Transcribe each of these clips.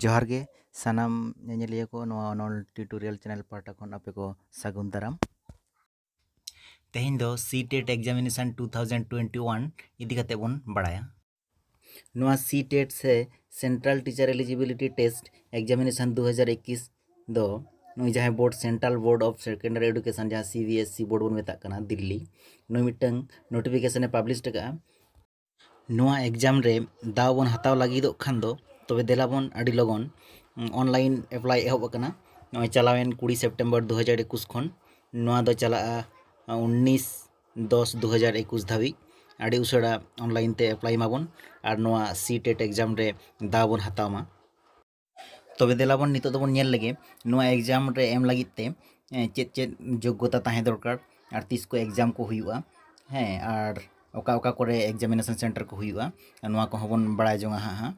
ᱡᱚᱦᱟᱨ ᱜᱮ ᱥᱟᱱᱟᱢ ᱧᱮᱧᱮᱞᱤᱭᱟᱹ ᱠᱚ ᱱᱚᱣᱟ ᱚᱱᱚᱞ ᱴᱤᱭᱩᱴᱳᱨᱤᱭᱟᱞ ᱪᱮᱱᱮᱞ ᱯᱟᱦᱴᱟ ᱠᱷᱚᱱ ᱟᱯᱮ ᱠᱚ ᱥᱟᱹᱜᱩᱱ ᱫᱟᱨᱟᱢ ᱛᱮᱦᱮᱧ ᱫᱚ C TET examination two thousand twenty one ᱤᱫᱤ ᱠᱟᱛᱮ ᱵᱚᱱ ᱵᱟᱲᱟᱭᱟ ᱱᱚᱣᱟ ᱥᱤ ᱴᱮᱴ ᱥᱮ central teacher eligibility test examination ᱫᱩ ᱦᱟᱡᱟᱨ ᱮᱠᱤᱥ ᱫᱚ ᱱᱩᱭ ᱡᱟᱦᱟᱸᱭ board central board of secondary education ᱡᱟᱦᱟᱸ ᱥᱤ ᱵᱤ ᱮᱥ ᱥᱤ ᱵᱳᱨᱰ ᱵᱚᱱ ᱢᱮᱛᱟᱜ ᱠᱟᱱᱟ ᱫᱤᱞᱞᱤ ᱱᱩᱭ ᱢᱤᱫᱴᱟᱝ ᱱᱳᱴᱤᱯᱷᱤᱠᱮᱥᱚᱱᱮ ᱯᱟᱵᱽᱞᱤᱥ ᱟᱠᱟᱫᱼᱟ ᱱᱚᱣᱟ ᱮᱠᱡᱟᱢ ᱨᱮ ᱫᱟᱣ ᱵᱚᱱ ᱦᱟᱛᱟᱣ ᱞᱟᱹᱜᱤᱫᱚᱜ ᱠᱷᱟᱱ ᱫᱚ ᱛᱚᱵᱮ ᱫᱮᱞᱟ ᱵᱚᱱ ᱟᱹᱰᱤ ᱞᱚᱜᱚᱱ ᱚᱱᱞᱟᱭᱤᱱ ᱮᱯᱞᱟᱭ ᱮᱦᱚᱵ ᱟᱠᱟᱱᱟ ᱱᱚᱜᱼᱚᱭ ᱪᱟᱞᱟᱣᱮᱱ ᱠᱩᱲᱤ ᱥᱮᱯᱴᱮᱢᱵᱚᱨ ᱫᱩ ᱦᱟᱡᱟᱨ ᱮᱠᱩᱥ ᱠᱷᱚᱱ ᱱᱚᱣᱟ ᱫᱚ ᱪᱟᱞᱟᱜᱼᱟ ᱩᱱᱤᱥ ᱫᱚᱥ ᱫᱩ ᱦᱟᱡᱟᱨ ᱮᱠᱩᱥ ᱫᱷᱟᱹᱵᱤᱡ ᱟᱹᱰᱤ ᱩᱥᱟᱹᱨᱟ ᱚᱱᱞᱟᱭᱤᱱ ᱛᱮ ᱮᱯᱞᱟᱭ ᱢᱟᱵᱚᱱ ᱟᱨ ᱱᱚᱣᱟ ᱥᱤ ᱴᱮᱴ ᱮᱠᱡᱟᱢ ᱨᱮ ᱫᱟᱣ ᱵᱚᱱ ᱦᱟᱛᱟᱣ ᱢᱟ ᱛᱚᱵᱮ ᱫᱮᱞᱟ ᱵᱚᱱ ᱱᱤᱛᱚᱜ ᱫᱚᱵᱚᱱ ᱧᱮᱞ ᱞᱮᱜᱮ ᱱᱚᱣᱟ ᱮᱠᱡᱟᱢ ᱨᱮ ᱮᱢ ᱞᱟᱹᱜᱤᱫ ᱛᱮ ᱪᱮᱫ ᱪᱮᱫ ᱡᱳᱜᱽᱜᱚᱛᱟ ᱛᱟᱦᱮᱸ ᱫᱚᱨᱠᱟᱨ ᱟᱨ ᱛᱤᱥ ᱠᱚ ᱮᱠᱡᱟᱢ ᱠᱚ ᱦᱩᱭᱩᱜᱼᱟ ᱦᱮᱸ ᱟᱨ ᱚᱠᱟ ᱚᱠᱟ ᱠᱚᱨᱮ ᱮᱠᱡᱟᱢᱤᱱᱮᱥᱚᱱ ᱥᱮᱱᱴᱟᱨ ᱠᱚ ᱦᱩᱭᱩᱜᱼᱟ ᱱᱚᱣᱟ ᱠᱚᱦᱚᱸ ᱵᱚᱱ ᱵᱟᱲᱟᱭ ᱡᱚᱝᱟ ᱦᱟᱸᱜ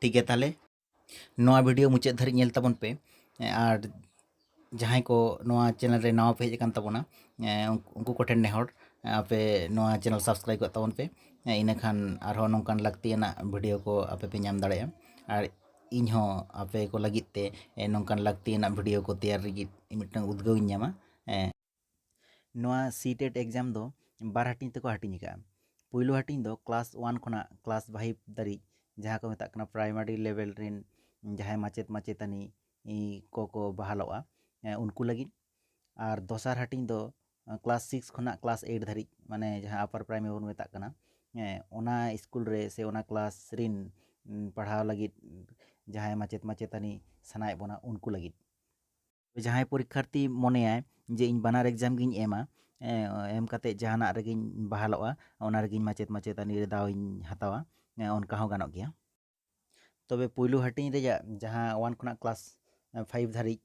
ᱴᱷᱤᱠ ᱜᱮᱭᱟ ᱛᱟᱦᱚᱞᱮ ᱱᱚᱣᱟ ᱵᱷᱤᱰᱤᱭᱳ ᱢᱩᱪᱟᱹᱫ ᱫᱷᱟᱹᱨᱤᱡ ᱧᱮᱞ ᱛᱟᱵᱚᱱ ᱯᱮ ᱟᱨ ᱡᱟᱦᱟᱸᱭ ᱠᱚ ᱱᱚᱣᱟ ᱪᱮᱱᱮᱞ ᱨᱮ ᱱᱟᱣᱟ ᱯᱮ ᱦᱮᱡ ᱟᱠᱟᱱ ᱛᱟᱵᱚᱱᱟ ᱩᱱᱠᱩ ᱠᱚᱴᱷᱮᱱ ᱱᱮᱦᱚᱨ ᱟᱯᱮ ᱱᱚᱣᱟ ᱪᱮᱱᱮᱞ ᱥᱟᱵᱥᱠᱨᱟᱭᱤᱵᱽ ᱠᱟᱜ ᱛᱟᱵᱚᱱ ᱯᱮ ᱤᱱᱟᱹ ᱠᱷᱟᱱ ᱟᱨᱦᱚᱸ ᱱᱚᱝᱠᱟᱱ ᱞᱟᱹᱠᱛᱤᱭᱟᱱᱟᱜ ᱵᱷᱤᱰᱤᱭᱳ ᱠᱚ ᱟᱯᱮ ᱯᱮ ᱧᱟᱢ ᱫᱟᱲᱮᱭᱟᱜᱼᱟ ᱟᱨ ᱤᱧ ᱦᱚᱸ ᱟᱯᱮ ᱠᱚ ᱞᱟᱹᱜᱤᱫ ᱛᱮ ᱱᱚᱝᱠᱟᱱ ᱞᱟᱹᱠᱛᱤᱭᱟᱱᱟᱜ ᱵᱷᱤᱰᱤᱭᱳ ᱠᱚ ᱛᱮᱭᱟᱨ ᱞᱟᱹᱜᱤᱫ ᱢᱤᱫᱴᱟᱝ ᱩᱫᱽᱜᱟᱹᱣ ᱤᱧ ᱧᱟᱢᱟ ᱱᱚᱣᱟ ᱥᱤᱴᱮᱴ ᱮᱠᱡᱟᱢ ᱫᱚ ᱵᱟᱨ ᱦᱟᱹᱴᱤᱧ ᱛᱮᱠᱚ ᱦᱟᱹᱴᱤᱧ ᱟᱠᱟᱫᱼᱟ ᱯᱩᱭᱞᱩ ᱦᱟᱹᱴᱤᱧ ᱫᱚ ᱠᱞᱟᱥ ᱳᱣᱟᱱ ᱠᱷᱚᱱᱟᱜ ᱠᱞᱟᱥ ᱯᱷᱟᱭᱤᱵᱽ ᱫᱷᱟᱹᱨᱤᱡ ᱡᱟᱦᱟᱸ ᱠᱚ ᱢᱮᱛᱟᱜ ᱠᱟᱱᱟ ᱯᱨᱟᱭᱢᱟᱨᱤ ᱞᱮᱵᱮᱞ ᱨᱮᱱ ᱡᱟᱦᱟᱸᱭ ᱢᱟᱪᱮᱫ ᱢᱟᱪᱮᱛᱟᱹᱱᱤ ᱠᱚᱠᱚ ᱵᱟᱦᱟᱞᱚᱜᱼᱟ ᱩᱱᱠᱩ ᱞᱟᱹᱜᱤᱫ ᱟᱨ ᱫᱚᱥᱟᱨ ᱦᱟᱹᱴᱤᱧ ᱫᱚ ᱠᱞᱟᱥ ᱥᱤᱠᱥ ᱠᱷᱚᱱᱟᱜ ᱠᱞᱟᱥ ᱮᱭᱤᱴ ᱫᱷᱟᱹᱨᱤᱡ ᱢᱟᱱᱮ ᱡᱟᱦᱟᱸ ᱟᱯᱟᱨ ᱯᱨᱟᱭᱢᱟᱨᱤ ᱵᱚᱱ ᱢᱮᱛᱟᱜ ᱠᱟᱱᱟ ᱦᱮᱸ ᱚᱱᱟ ᱤᱥᱠᱩᱞ ᱨᱮ ᱥᱮ ᱚᱱᱟ ᱠᱞᱟᱥ ᱨᱮᱱ ᱯᱟᱲᱦᱟᱣ ᱞᱟᱹᱜᱤᱫ ᱡᱟᱦᱟᱸᱭ ᱢᱟᱪᱮᱫ ᱢᱟᱪᱮᱛᱟᱹᱱᱤ ᱥᱟᱱᱟᱭᱮᱫ ᱵᱚᱱᱟ ᱩᱱᱠᱩ ᱞᱟᱹᱜᱤᱫ ᱡᱟᱦᱟᱸᱭ ᱯᱚᱨᱤᱠᱠᱷᱟᱨᱛᱷᱤ ᱢᱚᱱᱮᱭᱟᱭ ᱡᱮ ᱤᱧ ᱵᱟᱱᱟᱨ ᱮᱠᱡᱟᱢ ᱜᱤᱧ ᱮᱢᱟ ᱮᱢ ᱠᱟᱛᱮᱫ ᱡᱟᱦᱟᱱᱟᱜ ᱨᱮᱜᱮᱧ ᱵᱟᱦᱟᱞᱚᱜᱼᱟ ᱚᱱᱟ ᱨᱮᱜᱮᱧ ᱢᱟᱪᱮᱫ ᱢᱟᱪᱮᱛᱟᱹᱱᱤ ᱨᱮ ᱫᱟᱣ ᱤᱧ ᱦᱟᱛᱟᱣᱟ ᱚᱱᱠᱟ ᱦᱚᱸ ᱜᱟᱱᱚᱜ ᱜᱮᱭᱟ ᱛᱚᱵᱮ ᱯᱩᱭᱞᱩ ᱦᱟᱹᱴᱤᱧ ᱨᱮᱭᱟᱜ ᱡᱟᱦᱟᱸ ᱳᱣᱟᱱ ᱠᱷᱚᱱᱟᱜ ᱠᱞᱟᱥ ᱯᱷᱟᱭᱤᱵᱽ ᱫᱷᱟᱹᱨᱤᱡ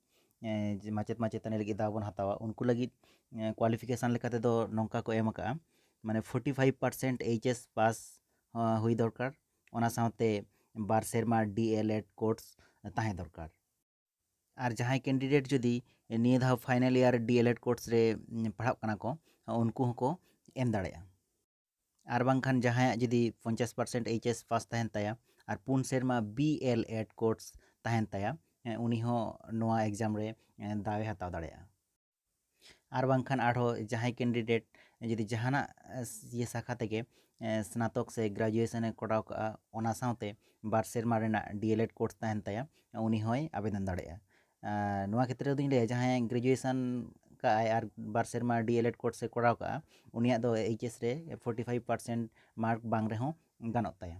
ᱢᱟᱪᱮᱫ ᱢᱟᱪᱮᱛᱟᱹᱱᱤ ᱞᱟᱹᱜᱤᱫ ᱫᱟᱣ ᱵᱚᱱ ᱦᱟᱛᱟᱣᱟ ᱩᱱᱠᱩ ᱞᱟᱹᱜᱤᱫ ᱠᱳᱣᱟᱞᱤᱯᱷᱤᱠᱮᱥᱚᱱ ᱞᱮᱠᱟ ᱛᱮᱫᱚ ᱱᱚᱝᱠᱟ ᱠᱚ ᱮᱢ ᱟᱠᱟᱫᱼᱟ ᱢᱟᱱᱮ forty five percent H S pass ᱦᱩᱭ ᱫᱚᱨᱠᱟᱨ ᱚᱱᱟ ᱥᱟᱶᱛᱮ ᱵᱟᱨ ᱥᱮᱨᱢᱟ ᱰᱤ ᱮᱞ ᱮᱰ ᱠᱳᱨᱥ ᱛᱟᱦᱮᱸ ᱫᱚᱨᱠᱟᱨ ᱟᱨ ᱡᱟᱦᱟᱸᱭ ᱠᱮᱱᱰᱤᱰᱮᱴ ᱡᱩᱫᱤ ᱱᱤᱭᱟᱹ ᱫᱷᱟᱣ ᱯᱷᱟᱭᱱᱟᱞ ᱤᱭᱟᱨ ᱰᱤᱮᱞᱮᱰ ᱠᱳᱨᱥ ᱨᱮ ᱯᱟᱲᱦᱟᱜ ᱠᱟᱱᱟ ᱠᱚ ᱩᱱᱠᱩ ᱦᱚᱸᱠᱚ ᱮᱢ ᱫᱟᱲᱮᱭᱟᱜᱼᱟ ᱟᱨ ᱵᱟᱝᱠᱷᱟᱱ ᱡᱟᱦᱟᱸᱭᱟᱜ ᱡᱩᱫᱤ ᱯᱚᱧᱪᱟᱥ ᱯᱟᱨᱥᱮᱱᱴ ᱮᱭᱤᱪ ᱮᱥ ᱯᱟᱥ ᱛᱟᱦᱮᱱ ᱛᱟᱭᱟ ᱟᱨ ᱯᱩᱱ ᱥᱮᱨᱢᱟ ᱵᱤ ᱮᱞ ᱮᱰ ᱠᱳᱨᱥ ᱛᱟᱦᱮᱱ ᱛᱟᱭᱟ ᱩᱱᱤ ᱦᱚᱸ ᱱᱚᱣᱟ ᱮᱠᱡᱟᱢ ᱨᱮ ᱫᱟᱣᱮ ᱦᱟᱛᱟᱣ ᱫᱟᱲᱮᱭᱟᱜᱼᱟ ᱟᱨ ᱵᱟᱝᱠᱷᱟᱱ ᱟᱨᱦᱚᱸ ᱡᱟᱦᱟᱸᱭ ᱠᱮᱱᱰᱤᱰᱮᱴ ᱡᱩᱫᱤ ᱡᱟᱦᱟᱱᱟᱜ ᱤᱭᱟᱹ ᱥᱟᱠᱷᱟ ᱛᱮᱜᱮ ᱥᱱᱟᱛᱚᱠ ᱥᱮ ᱜᱨᱟᱡᱩᱭᱮᱥᱮᱱᱮ ᱠᱚᱨᱟᱣ ᱠᱟᱜᱼᱟ ᱚᱱᱟ ᱥᱟᱶᱛᱮ ᱵᱟᱨ ᱥᱮᱨᱢᱟ ᱨᱮᱱᱟᱜ ᱰᱤ ᱮᱞ ᱮᱰ ᱠᱳᱨᱥ ᱛᱟᱦᱮᱱ ᱛᱟᱭᱟ ᱩᱱᱤ ᱦᱚᱸᱭ ᱟᱵᱮᱫᱚᱱ ᱫᱟᱲᱮᱭᱟᱜᱼᱟ ᱟᱨ ᱱᱚᱣᱟ ᱠᱷᱮᱛᱨᱮ ᱨᱮᱫᱚᱧ ᱞᱟᱹᱭᱟ ᱡᱟᱦᱟᱸᱭ ᱜᱨᱮᱡᱩᱭᱮᱥᱮᱱ ᱠᱟᱜ ᱟᱭ ᱟᱨ ᱵᱟᱨ ᱥᱮᱨᱢᱟ ᱰᱤ ᱮᱞ ᱮᱰ ᱠᱳᱨᱥᱮ ᱠᱚᱨᱟᱣ ᱠᱟᱜᱼᱟ ᱩᱱᱤᱭᱟᱜ ᱫᱚ ᱮᱭᱤᱪ ᱮᱥ ᱨᱮ ᱯᱷᱳᱨᱴᱤ ᱯᱷᱟᱭᱤᱵᱽ ᱯᱟᱨᱥᱮᱱᱴ ᱢᱟᱨᱠ ᱵᱟᱝ ᱨᱮᱦᱚᱸ ᱜᱟᱱᱚᱜ ᱛᱟᱭᱟ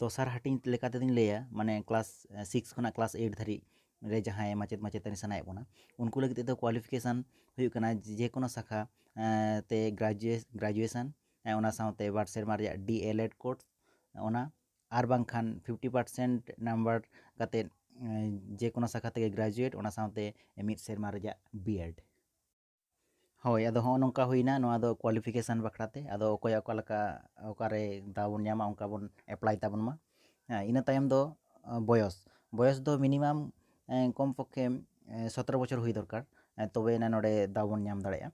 ᱫᱚᱥᱟᱨ ᱦᱟᱹᱴᱤᱧ ᱞᱮᱠᱟ ᱛᱮᱫᱚᱧ ᱞᱟᱹᱭᱟ ᱢᱟᱱᱮ ᱠᱞᱟᱥ ᱥᱤᱠᱥ ᱠᱷᱚᱱᱟᱜ ᱠᱞᱟᱥ ᱮᱭᱤᱴ ᱫᱷᱟᱹᱨᱤᱡ ᱨᱮ ᱡᱟᱦᱟᱸᱭ ᱢᱟᱪᱮᱫ ᱢᱟᱪᱮᱛᱟᱹᱱᱤ ᱥᱟᱱᱟᱭᱮᱫ ᱵᱚᱱᱟ ᱩᱱᱠᱩ ᱞᱟᱹᱜᱤᱫ ᱛᱮᱫᱚ ᱠᱳᱣᱟᱞᱤᱯᱷᱤᱠᱮᱥᱚᱱ ᱦᱩᱭᱩᱜ ᱠᱟᱱᱟ ᱡᱮᱠᱳᱱᱳ ᱥᱟᱠᱷᱟ ᱛᱮ ᱜᱨᱟᱡᱩᱭᱮᱥᱚᱱ ᱚᱱᱟ ᱥᱟᱶᱛᱮ ᱵᱟᱨ ᱥᱮᱨᱢᱟ ᱨᱮᱭᱟᱜ ᱰᱤ ᱮᱞ ᱮᱰ ᱠᱳᱨᱥ ᱚᱱᱟ ᱟᱨ ᱵᱟᱝᱠᱷᱟᱱ ᱯᱷᱤᱯᱴᱤ ᱯᱟᱨᱥᱮᱱᱴ ᱱᱟᱢᱵᱟᱨ ᱠᱟᱛᱮ ᱡᱮᱠᱳᱱᱳ ᱥᱟᱠᱷᱟ ᱛᱮᱜᱮ ᱜᱨᱟᱡᱩᱭᱮᱴ ᱚᱱᱟ ᱥᱟᱶᱛᱮ ᱢᱤᱫ ᱥᱮᱨᱢᱟ ᱨᱮᱭᱟᱜ ᱵᱤ ᱮᱰ ᱦᱳᱭ ᱟᱫᱚ ᱦᱚᱸᱜᱼᱚ ᱱᱚᱝᱠᱟ ᱦᱩᱭᱱᱟ ᱱᱚᱣᱟ ᱫᱚ ᱠᱳᱣᱟᱞᱤᱯᱷᱤᱠᱮᱥᱚᱱ ᱵᱟᱠᱷᱨᱟ ᱛᱮ ᱟᱫᱚ ᱚᱠᱚᱭᱟᱜ ᱚᱠᱟ ᱞᱮᱠᱟ ᱚᱠᱟᱨᱮ ᱫᱟᱣ ᱵᱚᱱ ᱧᱟᱢᱟ ᱚᱱᱠᱟ ᱵᱚᱱ ᱮᱯᱞᱟᱭ ᱛᱟᱵᱚᱱ ᱢᱟ ᱦᱮᱸ ᱤᱱᱟᱹ ᱛᱟᱭᱚᱢ ᱫᱚ ᱵᱚᱭᱚᱥ ᱵᱚᱭᱚᱥ ᱫᱚ ᱢᱤᱱᱤᱢᱟᱢ ᱠᱚᱢ ᱯᱚᱠᱠᱷᱮ ᱥᱚᱛᱨᱚ ᱵᱚᱪᱷᱚᱨ ᱦᱩᱭ ᱫᱚᱨᱠᱟᱨ ᱛᱚᱵᱮ ᱟᱱᱟᱜ ᱱᱚᱰᱮ ᱫᱟᱣ ᱵᱚᱱ ᱧᱟᱢ ᱫᱟᱲᱮᱭᱟᱜᱼᱟ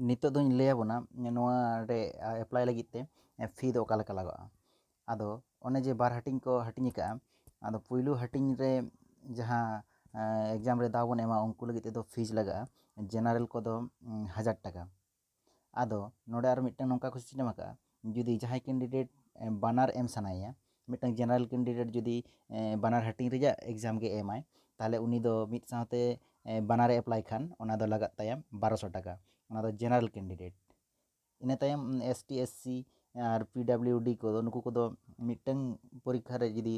ᱱᱤᱛᱚᱜ ᱫᱚᱧ ᱞᱟᱹᱭ ᱟᱵᱚᱱᱟ ᱱᱚᱣᱟ ᱨᱮ ᱮᱯᱞᱟᱭ ᱞᱟᱹᱜᱤᱫ ᱛᱮ ᱯᱷᱤ ᱫᱚ ᱚᱠᱟ ᱞᱮᱠᱟ ᱞᱟᱜᱟᱜᱼᱟ ᱟᱫᱚ ᱚᱱᱮ ᱡᱮ ᱵᱟᱨ ᱦᱟᱹᱴᱤᱧ ᱠᱚ ᱦᱟᱹᱴᱤᱧ ᱟᱠᱟᱫᱼᱟ ᱟᱫᱚ ᱯᱩᱭᱞᱩ ᱦᱟᱹᱴᱤᱧ ᱨᱮ ᱡᱟᱦᱟᱸ ᱮᱠᱡᱟᱢ ᱨᱮ ᱫᱟᱣ ᱵᱚᱱ ᱮᱢᱟ ᱩᱱᱠᱩ ᱞᱟᱹᱜᱤᱫ ᱛᱮᱫᱚ ᱯᱷᱤᱡᱽ ᱞᱟᱜᱟᱜᱼᱟ ᱡᱮᱱᱟᱨᱮᱞ ᱠᱚᱫᱚ ᱦᱟᱡᱟᱨ ᱴᱟᱠᱟ ᱟᱫᱚ ᱱᱚᱰᱮ ᱟᱨ ᱢᱤᱫᱴᱟᱝ ᱱᱚᱝᱠᱟ ᱠᱚ ᱥᱤᱥᱴᱮᱢ ᱟᱠᱟᱫᱼᱟ ᱡᱩᱫᱤ ᱡᱟᱦᱟᱸᱭ ᱠᱮᱱᱰᱤᱰᱮᱴ ᱵᱟᱱᱟᱨ ᱮᱢ ᱥᱟᱱᱟᱭᱮᱭᱟ ᱢᱤᱫᱴᱟᱝ ᱡᱮᱱᱟᱨᱮᱞ ᱠᱮᱱᱰᱤᱰᱮᱴ ᱡᱩᱫᱤ ᱵᱟᱱᱟᱨ ᱦᱟᱹᱴᱤᱧ ᱨᱮᱭᱟᱜ ᱮᱠᱡᱟᱢ ᱜᱮ ᱮᱢᱟᱭ ᱛᱟᱦᱚᱞᱮ ᱩᱱᱤ ᱫᱚ ᱢᱤᱫ ᱥᱟᱶᱛᱮ ᱵᱟᱱᱟᱨᱮ ᱮᱯᱞᱟᱭ ᱠᱷᱟᱱ ᱚᱱᱟ ᱫᱚ ᱞᱟᱜᱟᱜ ᱛᱟᱭᱟ ᱵᱟᱨᱚᱥᱚ ᱴᱟᱠᱟ ᱚᱱᱟ ᱫᱚ ᱡᱮᱱᱟᱨᱮᱞ ᱠᱮᱱᱰᱤᱰᱮᱴ ᱤᱱᱟᱹ ᱛᱟᱭᱚᱢ ᱮᱥ ᱴᱤ ᱮᱥ ᱥᱤ ᱟᱨ ᱯᱤ ᱰᱟᱵᱽᱞᱤᱭᱩ ᱰᱤ ᱠᱚᱫᱚ ᱱᱩᱠᱩ ᱠᱚᱫᱚ ᱢᱤᱫᱴᱟᱹᱝ ᱯᱚᱨᱤᱠᱠᱷᱟ ᱨᱮ ᱡᱩᱫᱤ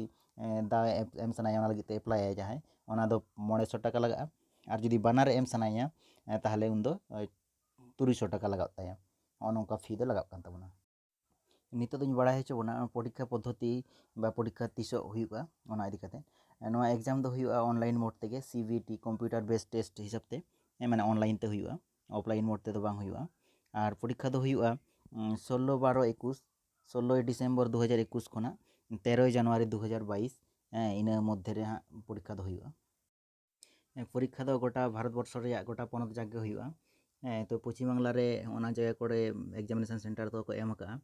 ᱫᱟᱣ ᱮ ᱮᱢ ᱥᱟᱱᱟᱭᱮᱭᱟ ᱚᱱᱟ ᱞᱟᱹᱜᱤᱫ ᱛᱮ ᱮᱯᱞᱟᱭᱟᱭ ᱡᱟᱦᱟᱸᱭ ᱚᱱᱟ ᱫᱚ ᱢᱚᱬᱮ ᱥᱚ ᱴᱟᱠᱟ ᱞᱟᱜᱟᱜᱼᱟ ᱟᱨ ᱡᱩᱫᱤ ᱵᱟᱱᱟᱨᱮ ᱮᱢ ᱥᱟᱱᱟᱭᱮᱭᱟ ᱛᱟᱦᱚᱞᱮ ᱩᱱᱤ ᱫᱚ ᱛᱩᱨᱩᱭ ᱥᱚ ᱴᱟᱠᱟ ᱞᱟᱜᱟᱜ ᱛᱟᱭᱟ ᱱᱚᱜᱼᱚ ᱱᱚᱝᱠᱟ ᱯᱷᱤ ᱫᱚ ᱞᱟᱜᱟᱜ ᱠᱟᱱ ᱛᱟᱵᱚᱱᱟ ᱱᱤᱛᱚᱜ ᱫᱚᱧ ᱵᱟᱲᱟᱭ ᱦᱚᱪᱚ ᱵᱚᱱᱟ ᱯᱚᱨᱤᱠᱠᱷᱟ ᱯᱚᱫᱽᱫᱷᱚᱛᱤ ᱵᱟ ᱯᱚᱨᱤᱠᱠᱷᱟ ᱛᱤᱥᱚᱜ ᱦᱩᱭᱩᱜᱼᱟ ᱚᱱᱟ ᱤᱫᱤ ᱠᱟᱛᱮ ᱱᱚᱣᱟ ᱮᱠᱡᱟᱢ ᱫᱚ ᱦᱩᱭᱩᱜᱼᱟ ᱚᱱᱞᱟᱭᱤᱱ ᱢᱳᱰ ᱛᱮᱜᱮ C B T computer based test ᱦᱤᱥᱟᱹᱵ ᱛᱮ ᱢᱟᱱᱮ ᱚᱱᱞᱟᱭᱤᱱ ᱛᱮ ᱦᱩᱭᱩᱜᱼᱟ ᱚᱯᱷᱞᱟᱭᱤᱱ ᱢᱳᱰ ᱛᱮᱫᱚ ᱵᱟᱝ ᱦᱩᱭᱩᱜᱼᱟ ᱟᱨ ᱯᱚᱨᱤᱠᱠᱷᱟ ᱫᱚ ᱦᱩᱭᱩᱜᱼᱟ ᱥᱳᱞᱞᱳ ᱵᱟᱨᱚ ᱮᱠᱩᱥ ᱥᱳᱞᱞᱳᱭ ᱰᱤᱥᱮᱢᱵᱚᱨ ᱫᱩ ᱦᱟᱡᱟᱨ ᱮᱠᱩᱥ ᱠᱷᱚᱱᱟᱜ ᱛᱮᱨᱳᱭ ᱡᱟᱱᱩᱣᱟᱨᱤ ᱫᱩ ᱦᱟᱡᱟᱨ ᱵᱟᱭᱤᱥ ᱦᱮᱸ ᱤᱱᱟᱹ ᱢᱚᱫᱽᱫᱷᱮ ᱨᱮ ᱦᱟᱸᱜ ᱯᱚᱨᱤᱠᱠᱷᱟ ᱫᱚ ᱦᱩᱭᱩᱜᱼᱟ ᱯᱚᱨᱤᱠᱠᱷᱟ ᱫᱚ ᱜᱚᱴᱟ ᱵᱷᱟᱨᱚᱛ ᱵᱚᱨᱥᱚ ᱨᱮᱭᱟᱜ ᱜᱚᱴᱟ ᱯᱚᱱᱚᱛ ᱡᱟᱠ ᱜᱮ ᱦᱩᱭᱩᱜᱼᱟ ᱦᱮᱸ ᱛᱚ ᱯᱚᱪᱷᱤᱢ ᱵᱟᱝᱞᱟ ᱨᱮ ᱚᱱᱟ ᱡᱟᱭᱜᱟ ᱠᱚᱨᱮ ᱮᱠᱡᱟᱢᱤᱱᱮᱥᱚᱱ ᱥᱮᱱᱴᱟᱨ ᱫᱚᱠᱚ ᱮᱢ ᱟᱠᱟᱜᱼᱟ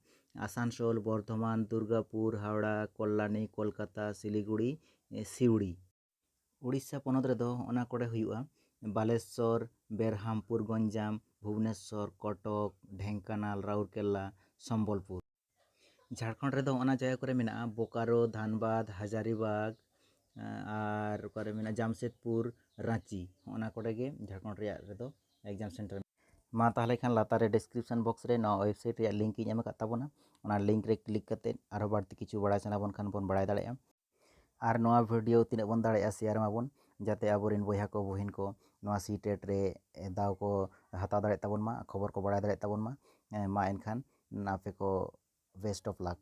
ᱟᱥᱟᱱᱥᱳᱞ ᱵᱚᱨᱫᱷᱚᱢᱟᱱ ᱫᱩᱨᱜᱟᱯᱩᱨ ᱦᱟᱣᱲᱟ ᱠᱚᱞᱞᱟᱱᱤ ᱠᱳᱞᱠᱟᱛᱟ ᱥᱤᱞᱤᱜᱩᱲᱤ ᱥᱤᱣᱲᱤ ᱳᱰᱤᱥᱟ ᱯᱚᱱᱚᱛ ᱨᱮᱫᱚ ᱚᱱᱟ ᱠᱚᱨᱮ ᱦᱩᱭᱩᱜᱼᱟ ᱵᱟᱞᱮᱥᱥᱚᱨ ᱵᱮᱨᱦᱟᱢᱯᱩᱨ ᱜᱚᱧᱡᱟᱢ ᱵᱷᱩᱵᱽᱱᱮᱥᱥᱚᱨ ᱠᱚᱴᱚᱠ ᱰᱷᱮᱝᱠᱟᱱᱟᱞ ᱨᱟᱣᱩᱨᱠᱮᱞᱞᱟ ᱥᱚᱢᱵᱚᱞᱯᱩᱨ ᱡᱷᱟᱲᱠᱷᱚᱸᱰ ᱨᱮᱫᱚ ᱚᱱᱟ ᱡᱟᱭᱜᱟ ᱠᱚᱨᱮ ᱢᱮᱱᱟᱜᱼᱟ ᱵᱳᱠᱟᱨᱳ ᱫᱷᱟᱱᱵᱟᱫᱽ ᱦᱟᱡᱟᱨᱤᱵᱟᱜᱽ ᱟᱨ ᱚᱠᱟᱨᱮ ᱢᱮᱱᱟᱜᱼᱟ ᱡᱟᱢᱥᱮᱫᱽᱯᱩᱨ ᱨᱟᱺᱪᱤ ᱦᱚᱸᱜᱼᱚ ᱱᱟ ᱠᱚᱨᱮ ᱜᱮ ᱡᱷᱟᱲᱠᱷᱚᱸᱰ ᱨᱮᱭᱟᱜ ᱨᱮᱫᱚ ᱮᱠᱡᱟᱢ ᱥᱮᱱᱴᱟᱨ ᱢᱟ ᱛᱟᱦᱚᱞᱮ ᱠᱷᱟᱱ ᱞᱟᱛᱟᱨ ᱨᱮ ᱰᱮᱥᱠᱨᱤᱯᱥᱚᱱ ᱵᱚᱠᱥ ᱨᱮ ᱱᱚᱣᱟ ᱳᱭᱮᱵᱽᱥᱟᱭᱤᱴ ᱨᱮᱭᱟᱜ ᱞᱤᱝᱠ ᱤᱧ ᱮᱢ ᱟᱠᱟᱫ ᱛᱟᱵᱚᱱᱟ ᱚᱱᱟ ᱞᱤᱝᱠ ᱨᱮ ᱠᱞᱤᱠ ᱠᱟᱛᱮᱫ ᱟᱨᱦᱚᱸ ᱵᱟᱹᱲᱛᱤ ᱠᱤᱪᱷᱩ ᱵᱟᱲᱟᱭ ᱥᱟᱱᱟ ᱵᱚᱱ ᱠᱷᱟᱱ ᱵᱚᱱ ᱵᱟᱲᱟᱭ ᱫᱟᱲᱮᱭᱟᱜᱼᱟ ᱟᱨ ᱱᱚᱣᱟ ᱵᱷᱤᱰᱤᱭᱳ ᱛᱤᱱᱟᱹᱜ ᱵᱚᱱ ᱫᱟᱲᱮᱭᱟᱜᱼᱟ ᱥᱮᱭᱟᱨ ᱢᱟᱵᱚᱱ ᱡᱟᱛᱮ ᱟᱵᱚᱨᱮᱱ ᱵᱚᱭᱦᱟ ᱠᱚ ᱵᱩᱦᱤᱱ ᱠᱚ ᱱᱚᱣᱟ ᱥᱤ ᱴᱮᱴ ᱨᱮ ᱫᱟᱣ ᱠᱚ ᱦᱟᱛᱟᱣ ᱫᱟᱲᱮᱭᱟᱜ ᱛᱟᱵᱚᱱ ᱢᱟ ᱠᱷᱚᱵᱚᱨ ᱠᱚ ᱵᱟᱲᱟᱭ ᱫᱟᱲᱮᱭᱟᱜ ᱛᱟᱵᱚᱱ ᱢᱟ ᱢᱟ ᱮᱱᱠᱷᱟᱱ ᱟᱯᱮ ᱠᱚ ᱵᱮᱥᱴ ᱚᱯᱷ ᱞᱟᱠ